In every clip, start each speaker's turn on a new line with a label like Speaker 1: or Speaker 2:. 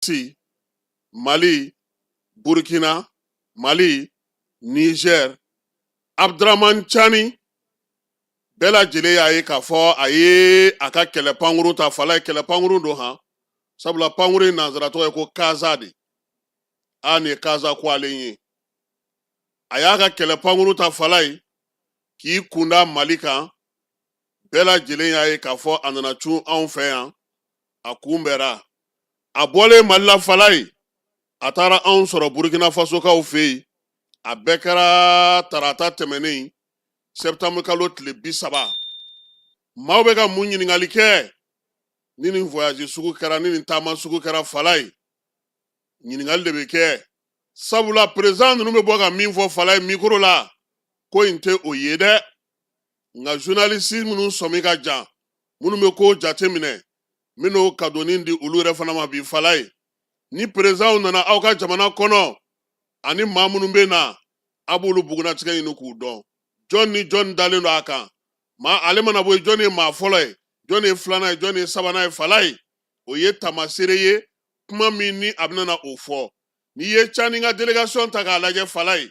Speaker 1: Russie, Mali, Burkina, Mali, Niger, Abdraman Chani, bɛɛ lajɛlen y'a ye k'a fɔ a ye a ka kɛlɛ pankuru ta falayi kɛlɛ pankuru don han sabula pankuru in nanzara tɔgɔ ye ko kaza de a nin ye kaza ko ale ye a y'a ka kɛlɛ pankuru ta falayi k'i kunda mali kan bɛɛ lajɛlen y'a ye k'a fɔ a nana cun anw fɛ yan a kunbɛra a bɔlen mali la falayi a taara anw sɔrɔ burukina fasokaw fɛ yen a bɛɛ kɛra tarata tɛmɛnen sɛtanburu kalo tile bi saba maaw bɛ ka mun ɲininkali kɛ ni nin voyage sugu kɛra ni nin taama sugu kɛra falayi ɲininkali de bɛ kɛ sabula perezidan ninnu bɛ bɔ ka min fɔ falayi mikoro la ko in tɛ o ye dɛ nka zurunalisi minnu sɔmi ka jan minnu bɛ ko jate minɛ minnu ka donni di olu yɛrɛ fana ma bi falayi ni perezidan nana aw ka jamana kɔnɔ ani maa minnu bɛ na a b'olu bugunnatigɛ ɲini k'u dɔn jɔn ni jɔn dalen don a kan maa ale mana bɔ yen jɔn ye maa fɔlɔ ye jɔn ye filanan ye jɔn ye sabanan ye falayi o ye taamaseere ye kuma min ni a bɛna o fɔ n'i ye cani ka delegasɔn ta k'a lajɛ falayi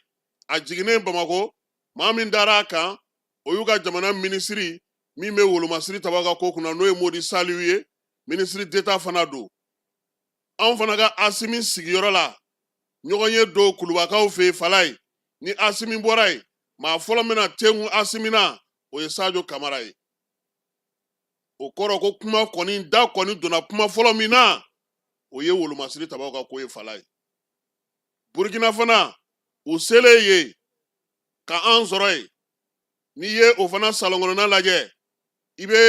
Speaker 1: a jiginnen bamakɔ maa min dara a kan o y'u ka jamana minisiri min bɛ wolomasiri tabaw ka ko kunna n'o ye modi saliw ye minisiri deta fana don anw fana ka asimi sigiyɔrɔ la ɲɔgɔn ye don kulubakaw fɛ yen falayi ni asimi bɔra yen maa fɔlɔ min na t'i gun asimi na o ye sajo kamara ye o kɔrɔ ko kuma kɔni da kɔni donna kuma fɔlɔ min na o ye wolomasiri tabaw ka ko ye falayi burukina fana u selen yen ka an sɔrɔ yen n'i ye o fana salon kɔnɔna lajɛ i bɛ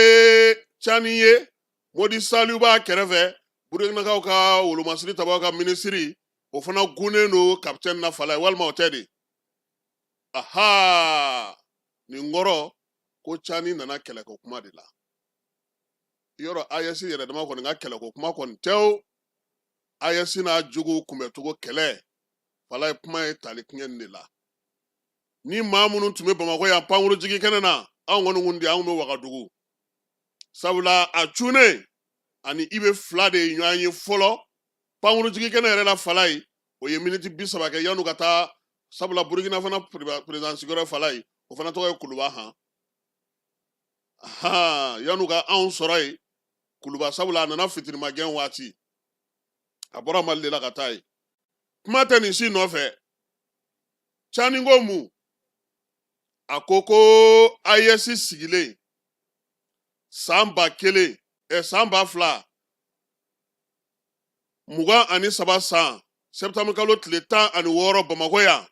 Speaker 1: cani ye modi saliw b'a kɛrɛfɛ burukinakaw ka wolomasiri tabaw ka minisiri o fana gunnen don kapitɛni na falayi walima o tɛ de aha nin kɔrɔ ko cani nana kɛlɛko kuma de la yɔrɔ ayɛsi yɛrɛ dama kɔni ka kɛlɛko kuma kɔni tɛ o ayɛsi n'a juguw kunbɛcogo kɛlɛ falayi kuma ye tali kɛ nin de la ni maa minnu tun bɛ bamakɔ yan pankuru jigin kɛnɛ na anw kɔni kun di anw bɛ wagadugu sabula a cunnen a ni ibe fila de ye ɲɔgɔn ye fɔlɔ pankuru jigin kɛnɛ yɛrɛ la falayi o ye miniti bi saba kɛ yan'u ka taa sabula burukina fana perezidan sigiyɔrɔ falayi o fana tɔgɔ ye kuluba han yan'u ka anw sɔrɔ yen kuluba sabula a nana fitirimagɛn waati a bɔra mali de la ka taa yen kuma tɛ nin si nɔfɛ cani ko mun a ko ko AES sigilen san ba kelen ɛ san ba fila mugan ani saba san septembre kalo tile tan ani wɔɔrɔ bamakɔ yan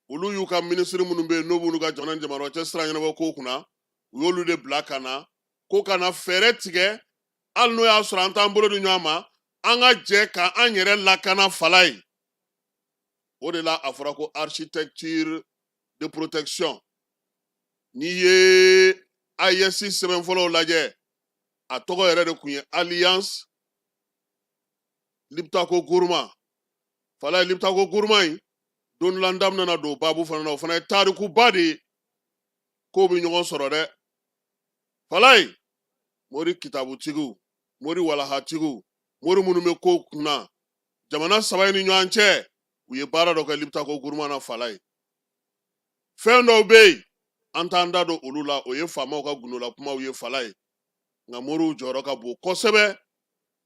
Speaker 1: olu y'u ka minisiri minnu bɛ yen n'o b'olu ka jamana jamana cɛ sira ɲɛnabɔ ko kunna u y'olu de bila ka na ko ka na fɛɛrɛ tigɛ hali n'o y'a sɔrɔ an t'an bolo di ɲɔgɔn ma an ka jɛ ka an yɛrɛ lakana falayi o de la a fɔra ko architecture de protection n'i ye AES sɛbɛn fɔlɔw lajɛ a tɔgɔ yɛrɛ de tun ye alliance lipitako guruma falayi lipitako guruma in don dɔ la n da bɛna don baabu fana na o fana ye tarikuba de ye k'o bɛ ɲɔgɔn sɔrɔ dɛ falayi mori kitabutigiw mori walahatigiw mori minnu bɛ ko kunna jamana saba in ni ɲɔgɔn cɛ u ye baara dɔ kɛ lipitako guruma na falayi fɛn dɔw bɛ yen an t'an da don olu la o ye faamaw ka gundola kumaw ye falayi nka moriw jɔyɔrɔ ka bon kosɛbɛ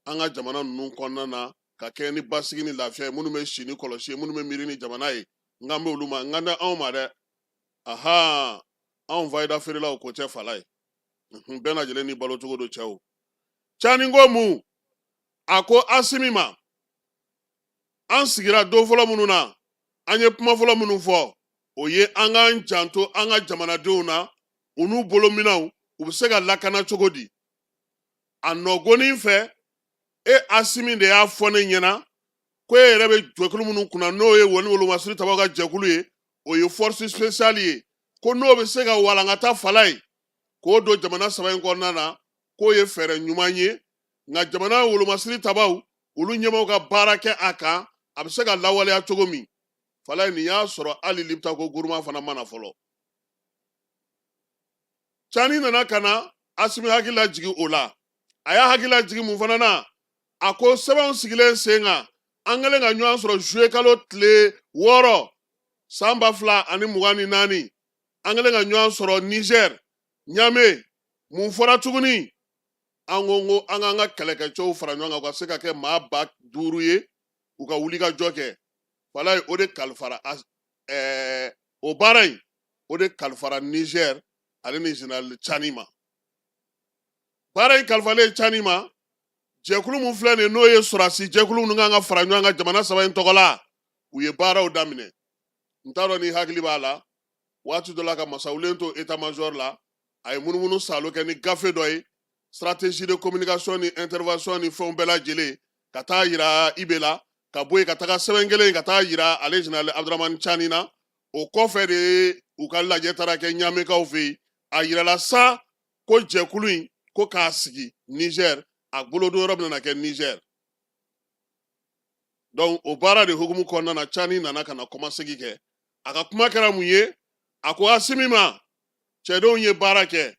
Speaker 1: an ka jamana ninnu kɔnɔna na ka kɛ ni basigi ni lafiya ye minnu bɛ si ni kɔlɔsi ye minnu bɛ miiri ni jamana ye n kan bɛ olu ma n kan tɛ anw ma dɛ ahan anw fayida feerelaw ko tɛ falayi Mhm, bɛɛ lajɛlen n'i balo cogo don cɛw cani ko mun a ko asimi ma an sigira don fɔlɔ minnu na an ye kuma fɔlɔ minnu fɔ o ye an k'an janto an ka jamanadenw na u n'u bolominɛnw u bɛ se ka lakana cogo di a nɔ gonin fɛ e asimi de y'a fɔ ne ɲɛna ko e yɛrɛ bɛ jɛkulu minnu kunna n'o ye wo wolomasiri tabaw ka jɛkulu ye o ye force spéciale ye ko n'o bɛ se ka walankata falayi k'o don jamana saba in kɔnɔna na k'o ye fɛɛrɛ ɲuman ye nka jamana wolomasiri tabaw olu ɲɛmɔgɔw ka baara kɛ a kan a bɛ se ka lawaleya cogo min falayi nin y'a sɔrɔ hali lipitako guruma fana mana fɔlɔ cani nana ka na asimi hakili lajigin o la a y'a hakili lajigin mun fana na a ko sɛbɛnw sigilen sen kan an kɛlen ka ɲɔgɔn sɔrɔ zuye kalo tile wɔɔrɔ san ba fila ani mugan ni naani an kɛlen ka ɲɔgɔn sɔrɔ nizɛr ɲame mun fɔra tuguni an ko ko an k'an ka kɛlɛkɛcɛw fara ɲɔgɔn kan u ka se ka kɛ maa ba duuru ye u ka wulikajɔ kɛ falayi o de kalifara o baara in o de kalifara nizɛri ale ni général cani ma baara in kalifalen cani ma jɛkulu min filɛ nin n'o ye sɔrɔdasi jɛkulu minnu kan ka fara ɲɔgɔn kan jamana saba in tɔgɔ la u ye baaraw daminɛ n t'a dɔn n'i hakili b'a la waati dɔ la ka masawulen to etamazɔri la a ye munumunu salo kɛ ni gafe dɔ ye stratégie de communication ni intervention ni fɛnw bɛɛ lajɛlen ka taa yira ibe la ka bɔ yen ka taga sɛbɛn kelen ka taa yira ale général abdramani cani na o kɔfɛ de u ka lajɛ taara kɛ ɲamekaw fɛ yen a yirala sa ko jɛkulu in ko k'a sigi nizɛr a bolodon yɔrɔ bɛna kɛ nizɛr donc o baara de hukumu kɔnɔna na cani nana ka na kɔmasegi kɛ a ka kuma kɛra mun ye a ko asimi ma cɛdenw ye baara kɛ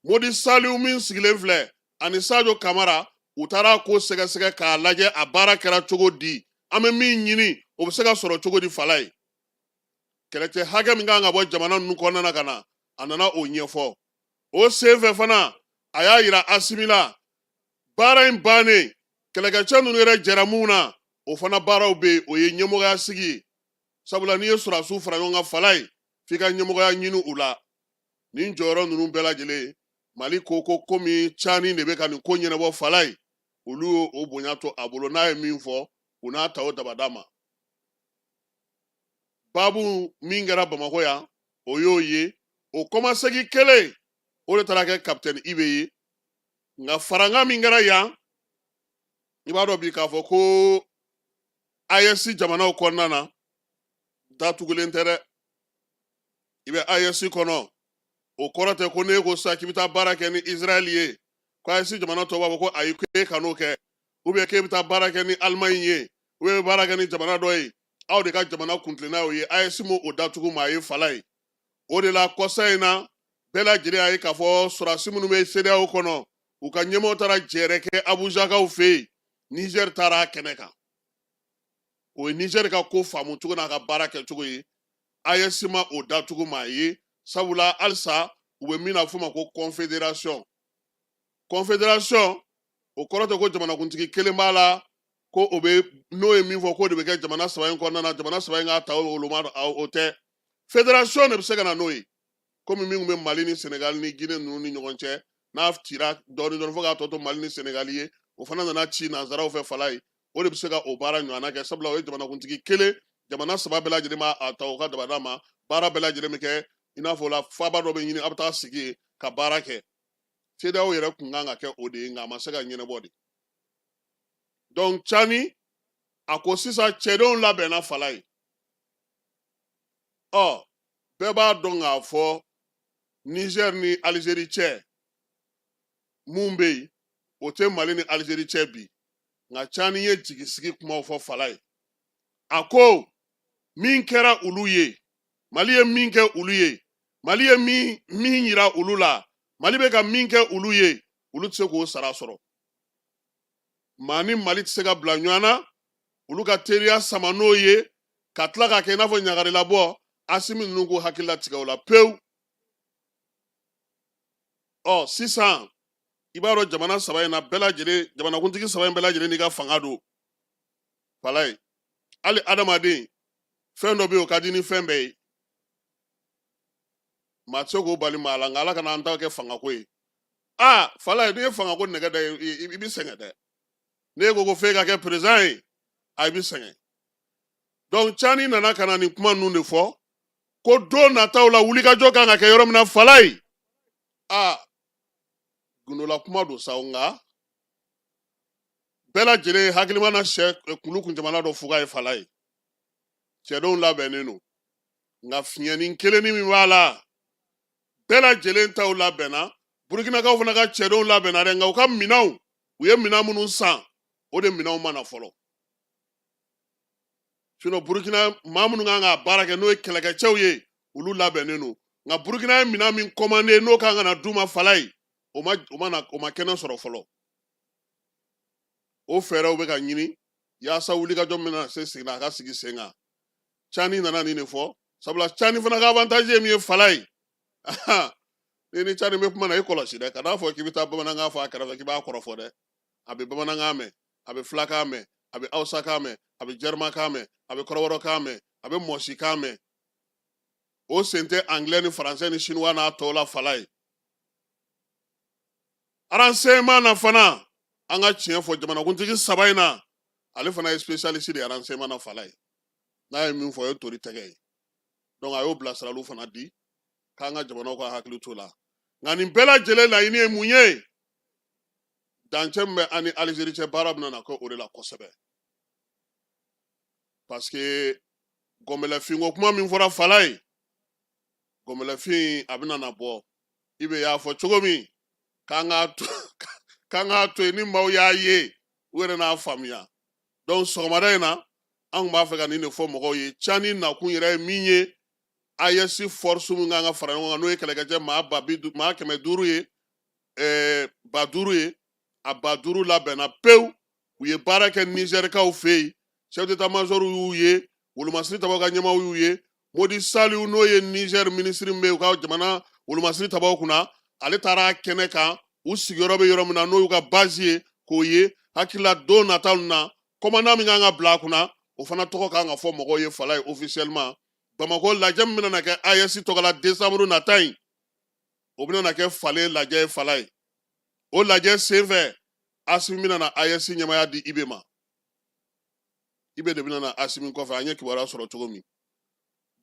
Speaker 1: modi saliu min sigilen filɛ ani sajo kamara u taara ko sɛgɛsɛgɛ k'a lajɛ a baara kɛra cogo di an bɛ min ɲini o bɛ se ka sɔrɔ cogo di fala ye kɛlɛcɛ hakɛ min kan ka bɔ jamana ninnu kɔnɔna na ka na a nana o ɲɛfɔ o senfɛ fana a y'a yira asimi la baara in bannen kɛlɛkɛcɛ ninnu yɛrɛ jɛra mun na o fana baaraw bɛ yen o ye ɲɛmɔgɔya sigi ye sabula n'i ye sɔrɔdasiw fara ɲɔgɔn kan fala ye f'i ka ɲɛmɔgɔya ɲini u la nin jɔyɔrɔ ninnu bɛɛ lajɛlen mali ko ko komi cani de bɛ ka nin ko ɲɛnabɔ fala ye olu y'o bonya to a bolo n'a ye min fɔ u n'a ta o dabada ma babu min kɛra bamakɔ yan o y'o ye o kɔmasegi kelen o de taara kɛ kapitɛni ibe ye nka farankan min kɛra yan i b'a dɔn bi k'a fɔ ko AES jamanaw kɔnɔna na datugulen tɛ dɛ i bɛ AES kɔnɔ o kɔrɔ tɛ ko n'e ko sa k'i bɛ taa baara kɛ ni Israɛl ye ko AES jamana tɔw b'a fɔ ko ayi k'e kan'o kɛ ou bien k'e bɛ taa baara kɛ ni alimaɲi ye ou bien baara kɛ ni jamana dɔ ye aw de ka jamana kuntilenna y'o ye AES ma o datugu maa ye fala ye o de la kɔsa in na bɛɛ lajɛlen y'a ye k'a fɔ sɔrɔdasi minnu bɛ CEDEAO kɔnɔ u ka ɲɛmɔgɔw taara jɛɛrɛ kɛ abujakaw fɛ yen nizɛri taara a kɛnɛ kan o ye nizɛri ka ko faamu cogo n'a ka baara kɛ cogo ye AES ma o datugu maa ye sabula halisa u bɛ min na f'o ma ko kɔnfederasɔn kɔnfederasɔn o kɔrɔ tɛ ko jamanakuntigi kelen b'a la ko o bɛ n'o ye min fɔ k'o de bɛ kɛ jamana saba in kɔnɔna na jamana saba in k'a ta o ma o tɛ federasɔn de bɛ se ka na n'o ye komi min bɛ mali ni senegali ni gine ninnu ni ɲɔgɔn cɛ n'a cira dɔɔnin dɔɔnin fo k'a tɔ to mali ni senegali ye o fana nana ci nanzaraw fɛ fala ye o de bɛ se ka o baara ɲɔgɔnna kɛ sabula o ye jamanakuntigi kelen jamana saba bɛɛ lajɛlen b'a ta o ka dabada ma baara bɛɛ lajɛlen bɛ kɛ i n'a fɔ o la faaba dɔ bɛ ɲini a bɛ taa sigi yen ka baara kɛ CEDEAO yɛrɛ kun kan ka kɛ o de ye nka a ma se ka ɲɛnabɔ de donc cani a ko sisan cɛdenw labɛnna Falaye ɔ bɛɛ b'a dɔn k'a fɔ Niger ni Algérie cɛ min bɛ yen o tɛ Mali ni Algérie cɛ bi nka cani ye jigisigi kumaw fɔ Falaye a ko min kɛra olu ye mali ye min kɛ olu ye mali ye min min yira olu la mali bɛ ka min kɛ olu ye olu tɛ se k'o sara sɔrɔ maa ni mali tɛ se ka bila ɲɔgɔn na olu ka teriya sama n'o ye ka tila k'a kɛ i n'a fɔ ɲagarilabɔ asimi ninnu k'u hakili latigɛ o la pewu ɔ sisan i b'a dɔn jamana saba in na bɛɛ lajɛlen jamanakuntigi saba in bɛɛ lajɛlen n'i ka fanga don Falaye hali adamaden fɛn dɔ bɛ yen o ka di ni fɛn bɛɛ ye maa tɛ se k'o bali maa la nka ala kana an ta kɛ fangako ye aa Falaye n'i ye fangako nɛgɛ da i bɛ sɛgɛn dɛ n'e ko ko f'e ka kɛ président ye a i bɛ sɛgɛn donc cani nana ka na nin kuma ninnu de fɔ ko don nataw la wulikajɔ kan ka kɛ yɔrɔ min na Falaye aa gundola kuma don sa nka bɛɛ lajɛlen hakilima na sɛ kulu kun jamana dɔ fuga ye Falaye cɛdenw labɛnnen don nka fiɲɛnin kelennin min b'a la bɛɛ lajɛlen taw labɛnna burukinakaw fana ka cɛdenw labɛnna dɛ nka u ka minɛnw u ye minɛn minnu san o de minɛnw ma na fɔlɔ sinon burukina maa minnu kan ka baara kɛ n'o ye kɛlɛkɛcɛw ye olu labɛnnen don nka burukina ye minɛn min commandé n'o kan ka na d'u ma Falaye o ma o ma na o ma kɛnɛ sɔrɔ fɔlɔ o fɛɛrɛw bɛ ka ɲini yaasa wulikajɔ min na se sigida a ka sigi sen kan cani nana nin de fɔ sabula cani fana ka avantage ye min ye Falaye ni ni cani bɛ kuma na i kɔlɔsi dɛ kan'a fɔ k'i bɛ taa bamanankan fɔ a kɛrɛfɛ k'i b'a kɔrɔfɔ dɛ a bɛ bamanankan mɛn a bɛ filakan mɛn a bɛ awusakan mɛn a bɛ jɛrimakan mɛn a bɛ kɔrɔbɔrɔkan mɛn a bɛ mɔsikan mɛn o sen tɛ angilɛ ni faransɛ ni sinuwa n'a tɔw la Falaye Renseignement na fana an ka tiɲɛ fɔ jamanakuntigi saba in na ale fana ye spécialiste de ye renseignement na Falaye n'a ye min fɔ o ye tori tɛgɛ ye donc a y'o bilasiraliw fana di k'an ka jamanaw ka hakili t'o la nka nin bɛɛ lajɛlen laɲini ye mun ye dancɛ min bɛ an ni Algérie cɛ baara bɛna na kɛ o de la kosɛbɛ parce que gɔnbɛlɛfinko kuma min fɔra Falaye gɔnbɛlɛfin a bɛna na bɔ Ibe y'a fɔ cogo min k'an k'a to k'an k'a to yen ni maaw y'a ye u yɛrɛ n'a faamuya donc sɔgɔmada in na an tun b'a fɛ ka nin de fɔ mɔgɔw ye cani nakun yɛrɛ ye min ye AES force min kan ka fara ɲɔgɔn kan n'o ye kɛlɛkɛcɛ maa ba bi maa kɛmɛ duuru ye ɛɛ ba duuru ye a ba duuru labɛnna pewu u ye baara kɛ nizɛrikaw fɛ yen chef d'état major y'u ye wolomasiri tabaw ka ɲɛmaaw y'u ye Modi Saliu n'o ye nizɛr minisiri min bɛ u ka jamana wolomasiri tabaw kunna ale taara kɛnɛ kan u sigiyɔrɔ bɛ yɔrɔ min na n'o y'u ka bazi ye k'o ye hakili la don nataw na kɔmandan min kan ka bila a kunna o fana tɔgɔ kan ka fɔ mɔgɔw ye fala ye officiellement bamakɔ lajɛ min bɛna kɛ AES tɔgɔ la desanburu nata in o bɛna kɛ falen lajɛ ye fala ye o lajɛ senfɛ Asimi bɛna na AES ɲɛmaya di Ibe ma Ibe de bɛna na Asimi kɔfɛ an ye kibaruya sɔrɔ cogo min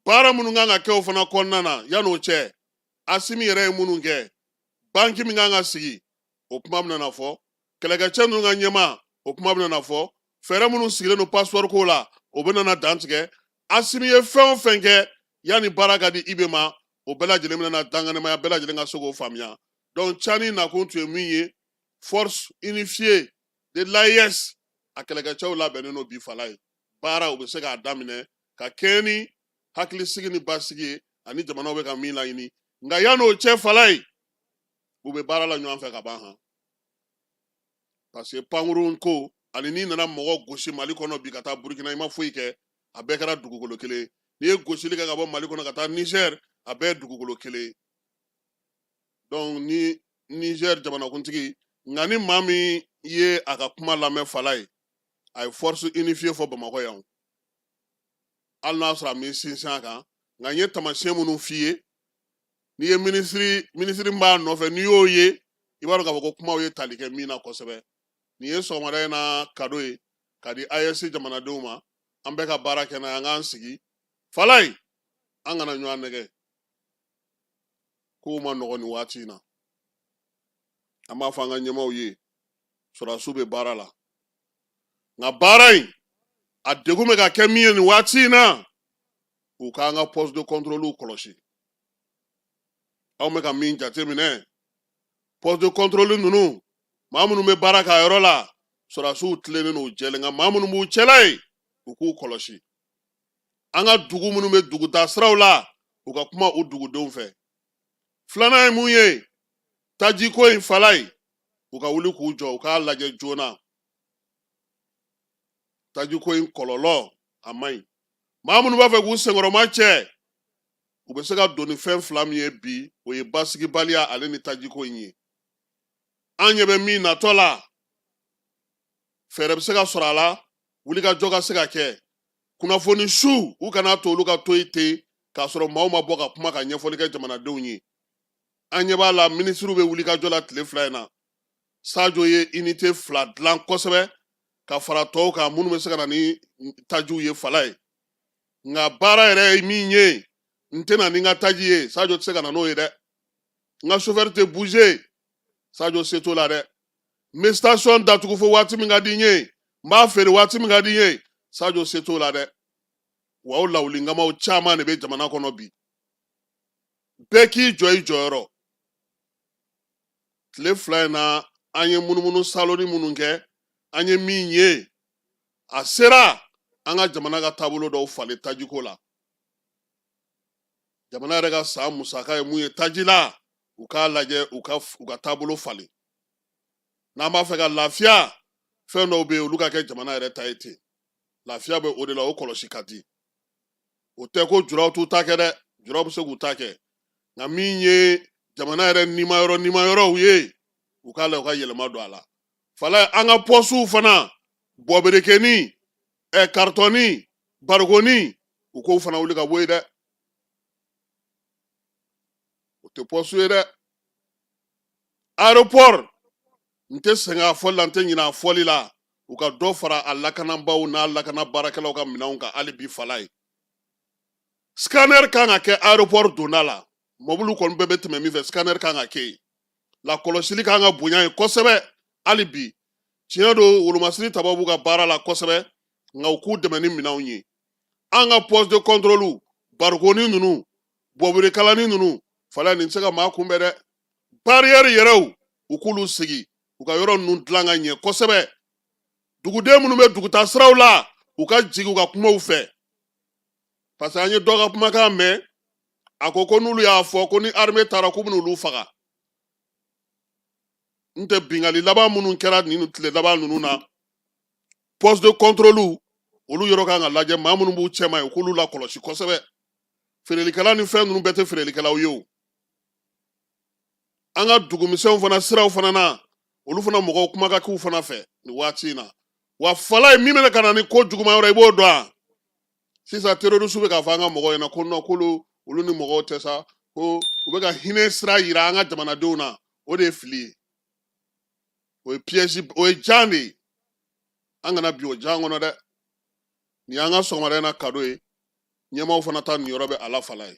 Speaker 1: baara minnu kan ka kɛ o fana kɔnɔna na yan'o cɛ Asimi yɛrɛ ye minnu kɛ banki min kan ka sigi o kuma bɛna na fɔ kɛlɛkɛcɛ ninnu ka ɲɛmaa o kuma bɛna na fɔ fɛɛrɛ minnu sigilen don passeport ko la o bɛna na dantigɛ Asimi ye fɛn o fɛn kɛ yanni baara ka di Ibe ma o bɛɛ lajɛlen bɛna na dankɛnɛmaya bɛɛ lajɛlen ka se k'o faamuya donc cani nakun tun ye min ye force unifiée de l'AES a kɛlɛkɛcɛw labɛnnen don bi fala ye baara u bɛ se k'a daminɛ ka kɛɲɛ ni hakilisigi ni basigi ye ani jamanaw bɛ ka min laɲini nka yan'o cɛ fala ye u bɛ baara la ɲɔgɔn fɛ ka ban han parce que pankurun ko ani n'i nana mɔgɔ gosi mali kɔnɔ bi ka taa burukina i ma foyi kɛ a bɛɛ kɛra dugukolo kelen ye n'i ye gosili kɛ ka bɔ mali kɔnɔ ka taa nizɛri a bɛɛ ye dugukolo kelen donc ni niger jamanakuntigi nka ni maa min ye a ka kuma lamɛn fala ye a ye force unifiée fɔ bamakɔ yan hali n'a sɔrɔ a m'i sinsin a kan nka n ye taamasiyɛn minnu f'i ye n'i ye minisiri minisiri min b'a nɔfɛ n'i y'o ye i b'a dɔn k'a fɔ ko kumaw ye tali kɛ min na kosɛbɛ nin ye sɔgɔmada in na kado ye ka di AES jamanadenw ma an bɛɛ ka baara kɛ n'a ye an k'an sigi fala ye an kana ɲɔgɔn nɛgɛn kow man nɔgɔn nin waati in na an b'a fɔ an ka ɲɛmaaw ye sɔrɔdasiw bɛ baara la nka baara in a degun bɛ ka kɛ min ye nin waati in na u k'an ka poste de contrôle kɔlɔsi anw bɛ ka min jateminɛ poste de contrôle ninnu maa minnu bɛ baara k'a yɔrɔ la sɔrɔdasiw tilennen don u jɛlen nka maa minnu b'u cɛla yen u k'u kɔlɔsi an ka dugu minnu bɛ dugutaa siraw la u ka kuma u dugudenw fɛ filanan ye mun ye tajiko in fala ye u ka wuli k'u jɔ u k'a lajɛ joona tajiko in kɔlɔlɔ a man ɲi maa minnu b'a fɛ k'u senkɔrɔma cɛ u bɛ se ka don ni fɛn fila min ye bi o ye basigibaliya ale ni tajiko in ye an ɲɛ bɛ min natɔ la fɛɛrɛ bɛ se ka sɔrɔ a la wulikajɔ ka se ka kɛ kunnafoni su u kana to olu ka to yen ten k'a sɔrɔ maaw ma bɔ ka kuma ka ɲɛfɔli kɛ jamanadenw ye an ɲɛ b'a la minisiriw bɛ wulikajɔ la tile fila in na sajo ye inite fila dilan kosɛbɛ ka fara tɔw kan minnu bɛ se ka na ni tajiw ye fala ye nka baara yɛrɛ ye min ye n tɛ na ni n ka taji ye sajo tɛ se ka na n'o ye dɛ n ka sofɛri tɛ buze sajo se t'o la dɛ n bɛ station datugu fo waati min ka di n ye n b'a feere waati min ka di n ye sajo se t'o la dɛ wa o lawulinkamaw caman de bɛ jamana kɔnɔ bi bɛɛ k'i jɔ i jɔyɔrɔ tile fila in na an ye munumunu saloni minnu kɛ an ye min ye a sera an ka jamana ka taabolo dɔw falen tajiko la jamana yɛrɛ ka san musaka ye mun ye taji la u k'a lajɛ u ka taabolo falen n'an b'a fɛ ka lafiya fɛn dɔw bɛ yen olu ka kɛ jamana yɛrɛ ta ye ten lafiya bɛ o de la o kɔlɔsi ka di o tɛ ko juraw t'u ta kɛ dɛ juraw bɛ se k'u ta kɛ nka min ye jamana yɛrɛ nima yɔrɔ nima yɔrɔw ye u k'a lajɛ u ka yɛlɛma don a la fala an ka pɔsiw fana bɔberekeni ɛ karitɔni barikoni u k'o fana wuli ka bɔ yen dɛ o tɛ pɔsi ye dɛ aropɔri n tɛ sɛgɛn a fɔli la n tɛ ɲinɛ a fɔli la u ka dɔ fara a lakanabaaw n'a lakana baarakɛlaw ka minɛnw kan hali bi fala ye scanner kan ka kɛ aropɔri donda la mɔbili kɔni bɛɛ bɛ tɛmɛ min fɛ scanner kan ka kɛ yen lakɔlɔsili kan ka bonya yen kosɛbɛ hali bi tiɲɛ don wolomasiri tabaaw b'u ka baara la kosɛbɛ nka u k'u dɛmɛ ni minɛnw ye an ka poste de contrôle barikoni ninnu bɔberekalani ninnu fala nin tɛ se ka maa kunbɛn dɛ barrière yɛrɛw u k'olu sigi u ka yɔrɔ ninnu dilan ka ɲɛ kosɛbɛ duguden minnu bɛ dugutaa siraw la u ka jigin u ka kuma u fɛ parce que an ye dɔ ka kumakan mɛn a ko ko n'olu y'a fɔ ko ni armée taara k'u bɛna olu faga n tɛ binkanni laban minnu kɛra nin tile laban ninnu na poste de contrôle olu yɔrɔ kan ka lajɛ maa minnu b'u cɛma ye k'olu lakɔlɔsi kosɛbɛ feerelikɛla ni fɛn ninnu bɛɛ tɛ feerelikɛlaw ye o an ka dugumisɛnw fana siraw fana na olu fana mɔgɔw kuma ka k'u fana fɛ nin waati in na wa falaye min bɛna ka na ni ko juguman wɛrɛ i b'o dɔn wa sisan terorisiw bɛ k'a fɔ an ka mɔgɔw ɲɛna ko non k'olu ni mɔgɔw tɛ sa ko u bɛ ka hinɛ sira yira an ka jamanadenw na o de ye fili ye o ye piège o ye jan de ye an kana bin o jan kɔnɔ dɛ nin y'an ka sɔgɔmada in na kado ye ɲɛmaaw fana ta niyɔrɔ bɛ a la falaye